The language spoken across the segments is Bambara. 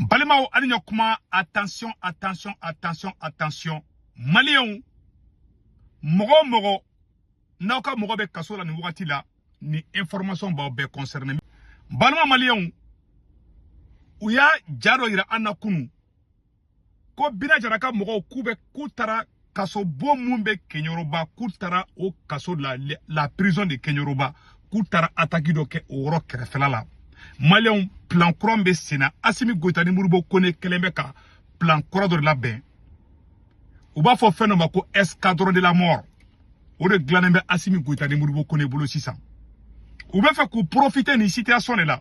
balimaw ani ɲɔ kuma attention attention attention attention maliyɛnw mɔgɔ o mɔgɔ n'aw ka mɔgɔ bɛ kaso la nin wagati la nin information b'aw bɛɛ concerné balima maliyɛnw u y'a ja dɔ yira an na kunu ko bina jara ka mɔgɔw k'u bɛ k'u taara kaso bon mun bɛ keɲoroba k'u taara o kaso la la prison de keɲoroba k'u taara ataki dɔ kɛ o yɔrɔ kɛrɛfɛla la maliyɛnw plan kura bɛ sen na asimi goyita ni modibo kone kɛlen bɛ ka plan kura dɔ de labɛn u b'a fɔ fɛn dɔ ma ko escadron de la mort o de dilannen bɛ asimi goyita ni modibo kone bolo sisan u bɛ fɛ k'u profite nin situation de la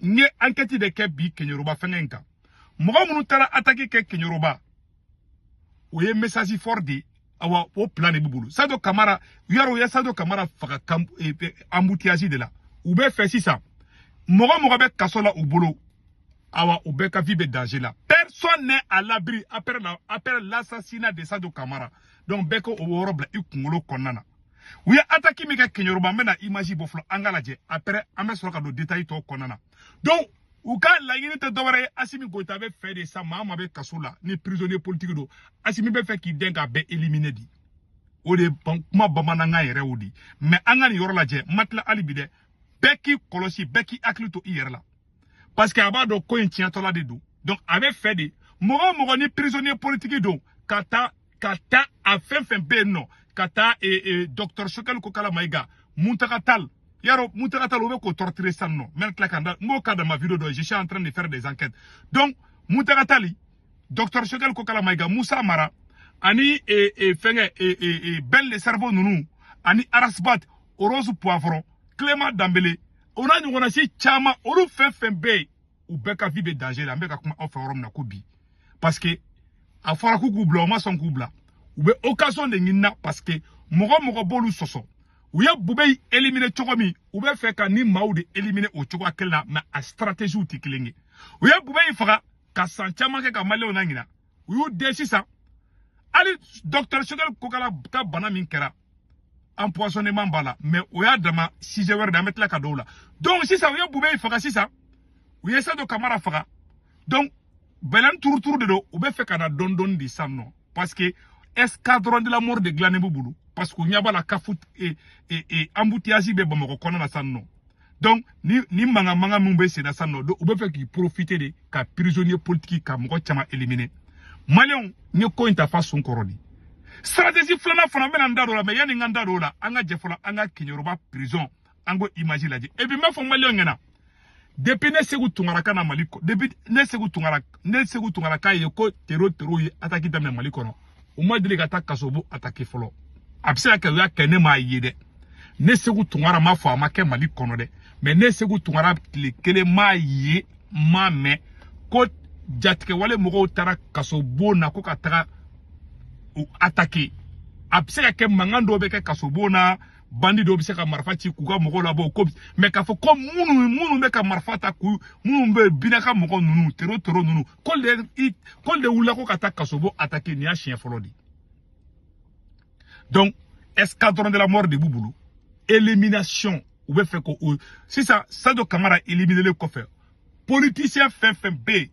n ye ankɛti de kɛ bi keɲoroba fɛnkɛ in kan mɔgɔ minnu taara ataki kɛ keɲoroba o ye message fort de ye awa o plan de b'u bolo sajo kamara yaro u ye sajo kamara faga embouteillage e, e, de la u bɛ fɛ sisan mɔgɔ o mɔgɔ bɛ kaso la u bolo awa u bɛɛ ka vie bɛ danger la personne n'est à l'abri après l'assassinat de sajo kamara donc bɛɛ k'o yɔrɔ bila i kunkolo kɔnɔna na u ye ataki min kɛ keɲoroba an bɛna image bɔ fɔlɔ an k'a lajɛ après an bɛ sɔrɔ ka don détail tɔw kɔnɔna na donc u ka laɲini tɛ dɔwɛrɛ ye asimi goyita bɛ fɛ de sa maa o maa bɛ kaso la ni prisonnier politique don asimi bɛ fɛ k'i dɛn k'a bɛɛ éliminer di o de kuma bamanankan yɛrɛ o di mais an ka nin yɔrɔ lajɛ n ma tila hali bi dɛ bɛɛ k'i kɔlɔsi bɛɛ k'i hakili to i yɛrɛ la parce que a b'a dɔn ko in tiɲɛtɔla de don donc a bɛ fɛ de mɔgɔ o mɔgɔ ni prisonnier politique don ka taa ka taa a fɛn o fɛn bɛ yen nɔ ka taa e, e, docteur sogɛli kokala mayiga muntaga tal yaro muntaga tal u bɛ k'o torturer sisan nɔ n bɛ tila ka n da n b'o k'a dama video dɔ je suis en train de faire des enquêtes donc muntaga tali docteur sogɛli kokala mayiga musa mara ani e, e, fɛnkɛ e, e, e, ben le cerveau ninnu ani ras bath rose poivron clément danbele o n'a ɲɔgɔnna si caman olu fɛn o fɛn bɛ yen u bɛɛ ka vie bɛ danger la an bɛ ka kuma aw fɛ yɔrɔ min na ko bi parce que a fɔra k'u k'u bila u ma sɔn k'u bila u bɛ occasion de ɲini na parce que mɔgɔ o mɔgɔ b'olu sɔsɔ u ye bubɛyi éliminer cogo min u bɛ fɛ ka nin maaw de éliminer o cogoya kelen na mais a stratégies tɛ kelen ye u ye bubɛyi faga ka san caman kɛ ka maliyɛnw laɲina u y'u dɛn sisan hali docteur sogɛli kokala ka bana min kɛra empoisonnement b'a la mais o y'a dama sujet wɛrɛ de an bɛ tila ka don o la donc sisan u ye bubɛyi faga sisan u ye sajo kamara faga donc bɛlɛni turuturu de don u bɛ fɛ ka na dɔɔni dɔɔni de sisan nɔ parce que escadron de la mort de dilannen b'u bolo parce que u ɲɛ b'a la k'a fɔ embouteillage bɛ bamakɔ kɔnɔna na sisan nɔ donc ni ni mankan mankan minnu bɛ senna sisan nɔ u bɛ fɛ k'i profiter de ka prisonnier politique ka mɔgɔ caman éliminer maliyɛnw n ye ko in ta f'a sun kɔrɔ de stratégie filanan fana n bɛna n da don o la mais yanni n ka n da don o la an ka jɛ fɔlɔ an ka keɲɛrɔba prison an k'o image lajɛ et puis n b'a fɔ maliyɛnw ɲɛna depuis ne seku tunkara ka na mali depuis ne seku tunkara ne seku tunkara k'a ye ko tero tero ye ataki daminɛ mali kɔnɔ u ma deli ka taa kaso bon atake fɔlɔ a bɛ se ka kɛ u y'a kɛ ne m'a ye dɛ ne seku tunkara m'a fɔ a ma kɛ mali kɔnɔ dɛ mais ne seku tunkara tile kelen m'a ye n m'a mɛn ko jatigɛwale mɔgɔw taara kaso bon na ko ka taga u atake a bɛ se ka kɛ mankan dɔw bɛ kɛ kaso bon na bandi dɔw bɛ se ka marifa ci k'u ka mɔgɔw labɔ ko mais k'a fɔ ko minnu minnu bɛ ka marifa ta k'u minnu bɛ bina ka mɔgɔ ninnu tero tero ninnu k'olu de i k'olu de wulila ko ka taa kasobon atake nin y'a siɲɛ fɔlɔ de donc escadron de la mort de b'u bolo élimination u bɛ fɛ ko o sisan sadio kamara éliminelen kɔfɛ politicien fɛn fɛn bɛ yen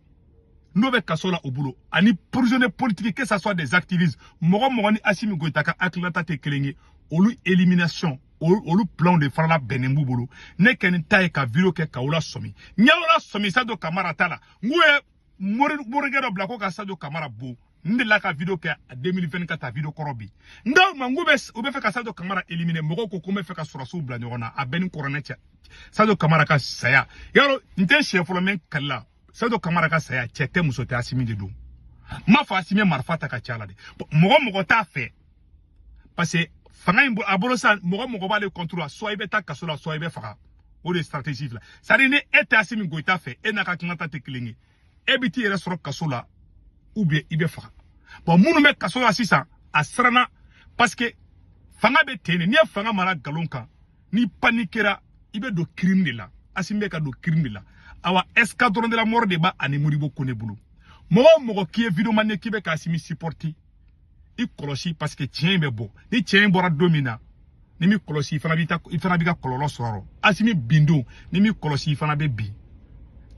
n'o bɛ kaso la u bolo ani prisonnier politique que ça soit des activistes mɔgɔ mɔgɔ ni asimi goyita ka hakilinata tɛ kelen ye olu élimination olu plan de fana labɛnnen b'u bolo ne kɔni ta ye ka video kɛ k'aw lasɔmi n y'aw lasɔmi sajo kamara ta la n k'u ye mori morikɛ dɔ bila ko ka sajo kamara bon n delila ka video kɛ 2024 a video kɔrɔ bi n k'aw ma n k'u bɛ u bɛ fɛ ka sajo kamara éliminer mɔgɔw ko ko n bɛ fɛ ka sɔrɔdasiw bila ɲɔgɔn na a bɛɛ ni kɔrɔnɛ cɛ sajo kamara ka saya yɔrɔ n tɛ siɲɛ fɔlɔ mais n kalila sajo kamara ka saya cɛ tɛ muso tɛ asimi de don n m'a fɔ asimi marifa ta k'a ci a la dɛ mɔgɔ mɔgɔ t'a fɛ parce que fanga in b'a bolo sa mɔgɔ mɔgɔ b'ale contre la soit i bɛ taa kaso la soit i bɛ faga o de ye stratégie fila c'est à dire ni e tɛ asimi goyita fɛ e n'a ka hakilinata tɛ kelen ye e bɛ t'i yɛrɛ sɔrɔ kaso la ou bien i bɛ faga bon minnu bɛ kaso la sisan a siranna parce que fanga bɛ ten de n'i ye fanga mara nkalon kan n'i panikera i bɛ don crime de la asimi bɛ ka don crime de la awa escadron de la mort de b'a ani modibo kone bolo mɔgɔ o mɔgɔ k'i ye vidéoman ye k'i bɛ ka asimi supporter i kɔlɔsi parce que tiɲɛ in bɛ bɔ ni tiɲɛ in bɔra don min na n'i m'i kɔlɔsi i fana b'i ta i fana b'i ka kɔlɔlɔ sɔrɔ asimi bin don n'i m'i kɔlɔsi i fana bɛ bin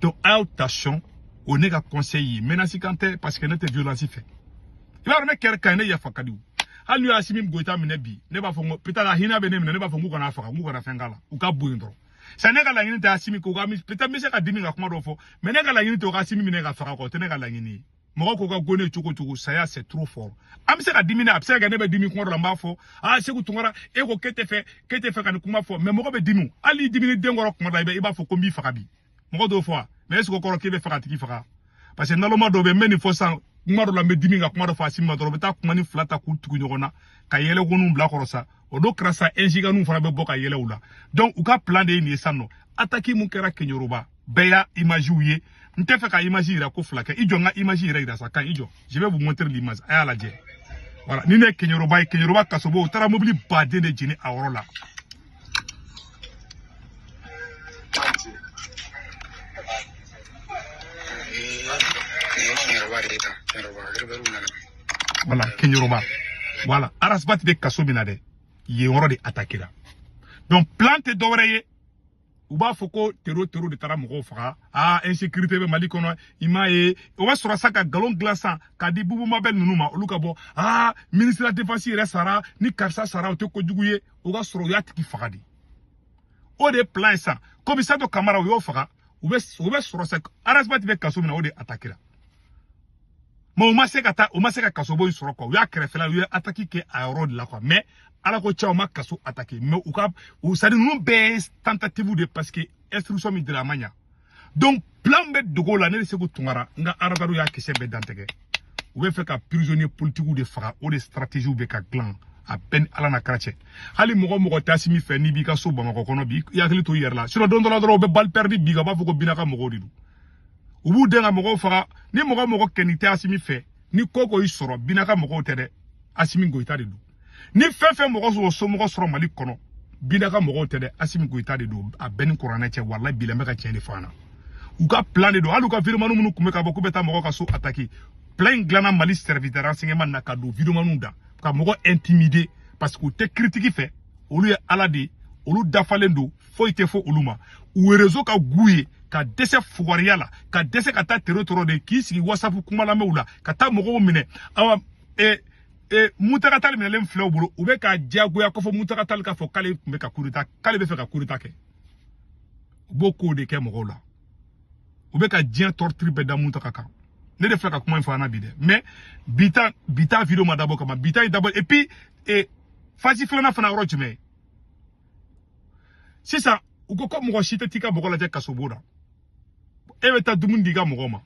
donc a y'aw attention o ne ka conseil ye menace kan tɛ parce que ne tɛ violence fɛ i b'a dɔn ne kɛra quelqu'un ye ne yafa ka di o hali n'u ye asimi goyita minɛ bi ne b'a fɔ n ko peut-être a hinɛ bɛ ne minɛ ne b'a fɔ n k'u kan'a faga n k'u kana fɛn k'a la u k'a bɔ yen dɔrɔn sa ne ka laɲini tɛ asimi ko ka peut-être n bɛ se ka dimi ka kuma dɔ fɔ mais ne ka laɲini tɛ u ka asimi minɛ k'a faga kɔ o tɛ ne ka laɲini ye mɔgɔ ko k'a gɛn cogo cogo saya c'est trop fort an bɛ se ka dimi na a bɛ se ka kɛ ne bɛ dimi kuma dɔ la n b'a fɔ aa seku tunkara e ko k'e tɛ fɛ k'e tɛ fɛ ka nin kuma fɔ mais mɔgɔ bɛ dimi hali n'i diminen den kɔrɔ kuma dɔ la i b'a fɔ ko n b'i faga bi mɔgɔ t'o fɔ wa mais est-ce que o kɔrɔ k'e bɛ fɛ k'a tigi faga parce que naloma dɔ bɛ n bɛ nin fɔ sisan kuma dɔ la n bɛ dimi ka kuma dɔ fɔ asimi ma dɔrɔn u bɛ taa kuma nin fila ta k'u tugu ɲɔgɔn na ka yɛlɛkoniw bila kɔrɔ sa o don kɛra sa ɛnsiganiw fana bɛ bɔ ka yɛlɛ u la donc u ka plan de ye nin ye sisan nɔ ataki min kɛra keɲoroba bɛɛ y'a imaziw ye n tɛ fɛ ka imazi yira ko fila kɛ i jɔ n ka imazi yɛrɛ yira sa kan i jɔ je vais vous montrer l'image a y'a lajɛ voilà nin de ye keɲoroba ye keɲoroba kasobon u taara mobili baden de jeni a yɔrɔ la Voilà, keɲoroba. Voilà, Arasbat bɛ kaso min na dɛ. Yɔrɔ de atakira. Donc, plan tɛ dɔ wɛrɛ ye. u b'a fɔ ko tero tero de taara mɔgɔw faga aa insécurité bɛ mali kɔnɔ i m'a ye o b'a sɔrɔ sa ka nkalon dilan san ka di bubu mabɛl ninnu ma olu ka bɔ aa ministre de la défense yɛrɛ sara ni karisa sara o tɛ kojugu ye o ka sɔrɔ u y'a tigi faga de o de ye plan ye sisan komi sajo kamara u y'o faga u bɛ u bɛ sɔrɔ sa arasibati bɛ kaso min na o de atakira mɛ u ma se ka taa u ma se ka kasobon in sɔrɔ kuwa u y'a kɛrɛfɛla u ye ataki kɛ a yɔrɔ de la kuwa mɛ ala ko cɛ u ma kaso atake mɛ u ka u sadi ninnu bɛɛ ye tentative de parce que instruction min dira a ma ɲa donc plan bɛ dogo la ne de seku tungara n ka aradaro y'a kisɛ bɛɛ dantigɛ u bɛ fɛ ka prisonnier politikiw de faga o de stratégie u bɛ ka dilan a bɛ n ni ala n'a kira cɛ hali mɔgɔ mɔgɔ t'asimi fɛ n'i b'i ka so bamakɔ kɔnɔ bi i hakili to i yɛrɛ la sinon don dɔ la dɔrɔn u bɛ balle perdue bin i kan u b'a fɔ ko bina ka mɔgɔw de don u b'u dɛn ka mɔgɔw faga ni mɔgɔ mɔgɔ kɔni tɛ asimi fɛ ni ko ko y'i sɔrɔ bina ka mɔgɔw tɛ dɛ asimi goyita de don ni fɛn fɛn mɔgɔ somɔgɔ sɔrɔ mali kɔnɔ bina ka mɔgɔw tɛ dɛ asimi goyita de don a bɛ n ni kuranɛ cɛ walayi bilayi n bɛ ka tiɲɛ de fɔ an na u ka plan de don hali u ka videomani minnu tun bɛ ka bɔ k'u bɛ taa mɔgɔ ka so ataki plan in dilanna mali service de renseignement na ka don videomaniw da ka mɔgɔ intimider parce que u tɛ kiritiki fɛ olu ye ala de ye olu dafalen don foyi tɛ fɔ olu ma u rezo ka go u ye ka dɛsɛ fugariya la ka dɛsɛ ka taa tero tɔrɔ de k'i sigi wasapu kumalamɛw la ka taa mɔgɔw minɛ awa eh, e muntaga tal minɛlen filɛ u bolo u bɛ k'a diyagoya ko fo muntaga tal k'a fɔ k'ale tun bɛ ka kudeta k'ale bɛ fɛ ka kudeta kɛ u b'o kow de kɛ mɔgɔw la u bɛ ka diɲɛ tɔrɔtiri bɛɛ da muntaga kan ne de filɛ ka kuma in fɔ an na bi dɛ mɛ bi ta bi ta video ma dabɔ o kama bi ta ye dabɔ et puis e fasi filanan fana yɔrɔ jumɛn sisan u ko ko mɔgɔ si tɛ t'i ka mɔgɔ lajɛ kasobon na e bɛ taa dumuni di i ka mɔgɔ ma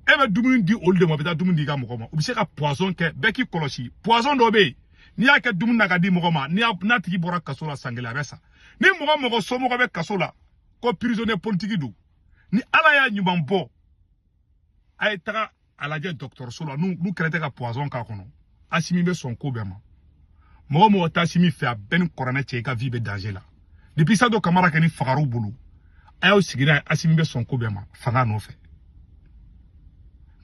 e bɛ dumuni di olu de ma u bɛ taa dumuni di i ka mɔgɔ ma u bɛ se ka poison kɛ bɛɛ k'i kɔlɔsi poison dɔ bɛ yen n'i y'a kɛ dumuni na ka di mɔgɔ ma n'a tigi bɔra kaso la san kelen a bɛ sa ni mɔgɔ mɔgɔ somɔgɔ bɛ kaso la ko prisonnier politique don ni ala y'a ɲuman bɔ a ye taga a lajɛ dɔgɔtɔrɔso la n'u kɛlen tɛ ka poison k'a kɔnɔ asimi bɛ sɔn ko bɛɛ ma mɔgɔ o mɔgɔ t'asimi fɛ a bɛ n ni kuranɛ cɛ i ka vie bɛ danger la depuis sajo kamara kɛni fagara u bolo a y'aw sigi n'a ye asimi bɛ sɔn ko bɛɛ ma fanga nɔfɛ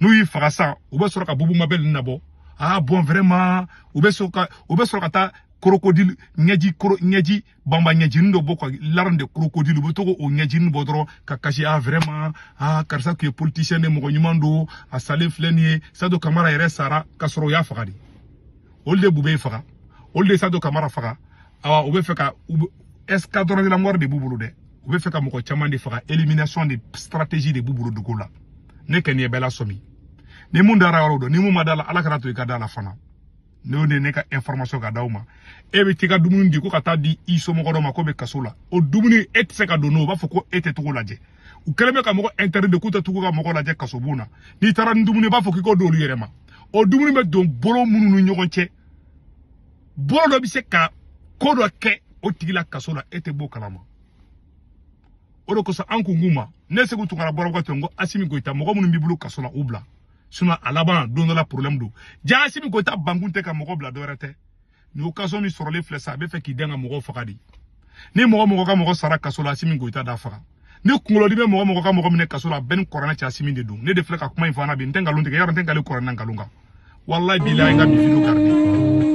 n'u y'i faga sa u bɛ sɔrɔ ka bubu mabɛl nin nabɔ aa bɔn vraiment u bɛ sɔrɔ ka u bɛ sɔrɔ ka taa crocodile ɲɛji koro ɲɛji banba ɲɛjini dɔ bɔ ko larmes de crocodile u bɛ to ka o ɲɛjini bɔ dɔrɔn ka kasi a vraiment a karisa tun ye politicien de mɔgɔ ɲuman don a salen filɛ nin ye sajo kamara yɛrɛ sara ka sɔrɔ u y'a faga de olu de b'u bɛɛ faga olu de sajo kamara faga awa u bɛ fɛ ka escadron de la mort de b'u bolo dɛ u bɛ fɛ ka mɔgɔ caman de faga élimination de stratégie de b'u bolo dogo la ne kɛni ye bɛɛ lasɔmi ni min dara yɔrɔ dɔn ni min ma d'a la ala kan'a to i ka d'a la fana n'o de ne ka information ka d'aw ma e bɛ t'i ka dumuni di ko ka t'a di i somɔgɔ dɔ ma k'o bɛ kaso la o dumuni e tɛ se ka don n'o b'a fɔ ko e tɛ tag'o lajɛ u kɛlen bɛ ka mɔgɔ interdit de k'u tɛ tag'u ka mɔgɔ lajɛ kasobon na n'i taara ni dumuni ye u b'a fɔ k'i k'o d'olu yɛrɛ ma o dumuni bɛ don bolo minnu ni ɲɔgɔn cɛ bolo dɔ bɛ se ka ko dɔ kɛ o tigi la kaso la e tɛ b'o kalama o de kosɔn an kun k'u ma ne seku tunkara bɔrɔkɔ ten n ko asimi goyita mɔgɔ minnu b'i bolo kaso la u bila sinon a laban don dɔ la problème don jaa asimi goyita bankun tɛ ka mɔgɔ bila dɔwɛrɛ tɛ nin occasion min sɔrɔlen filɛ sa a bɛ fɛ k'i dɛn ka mɔgɔw faga de ni mɔgɔ o mɔgɔ ka mɔgɔ sara kaso la asimi goyita d'a faga ni kunkolodimi bɛ mɔgɔ o mɔgɔ ka mɔgɔ minɛ kaso la a bɛ n ni kuranɛ cɛ asimi de don ne de filɛ ka kuma in fɔ an na bi n tɛ nkalon tigɛ yɔrɔ n tɛ n kali kuranɛ na nkalon kan walayi bilayi n ka bi video garde